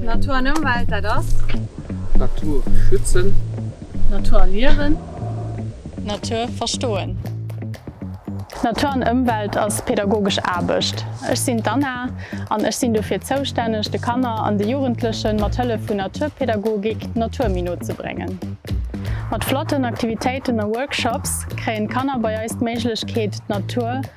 Natur an Ëmwelt, dat ass. Natur schützen. Natur erliewen. Natur verstoen. Natur an Ëmwelt ass pädagogesch Aarbecht. Ech sinn d'Anna an ech sinn dofir zoustänneg, de Kanner an de Jugendlechen mat Hëllef vun Naturpädagogik d'Natur méi no ze bréngen. Mat flotten Aktivitéiten a Workshops kréien d'Kanner bei eis d'Méiglechkeet d'Natur.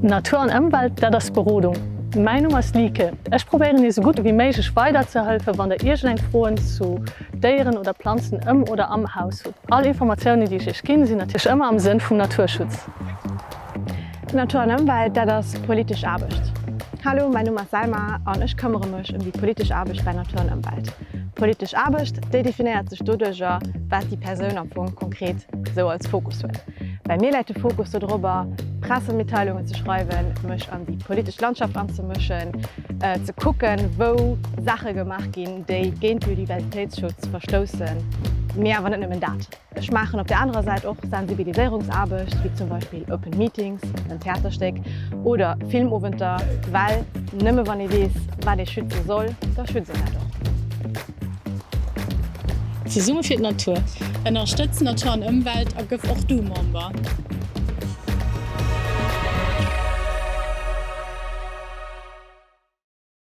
Natur an Ëmwelt, dat ass Berodung. Mäin Numm ass Lieke. Ech probéieren iech esou gutt ewéi méiglech weiderzehëlfe wann der iergendeng Froen zu Déieren oder Planzen ëm oder am Haus hutt. All Informatiounen déi ech iech ginn, sinn natierlech ëmmer am Sënn vum Naturschutz. Natur an Ëmwelt, dat ass politesch Aarbecht. Hallo, mäin Numm ass Selma an ech këmmere mech ëm déi politesch Aarbecht bei Natur an Ëmwelt. Politesch Aarbecht, déi definéiert sech doduerger wat déi Persoun am Fong konkret esou als Fokus huet. Bei mir läit de Fokus dodrobber, Pressemitteilungen ze schreiwen, mech an déi politesch Landschaft anzemëschen, ze kucken, wou Saache gemaach ginn, déi géint Biodiversitéitsschutz verstoussen, mee awer net nëmmen dat. Ech maachen op der anerer Säit och Sensibiliséierungsaarbecht, wéi zum Beispill Open Meetings, en Theaterstéck oder Filmowenter, well nëmme wann ee weess, wat ee schütze soll, da schützt een dat och. Zesumme fir d'Natur! Ënnerstëtz Natur an Ëmwelt a gëff och du Member!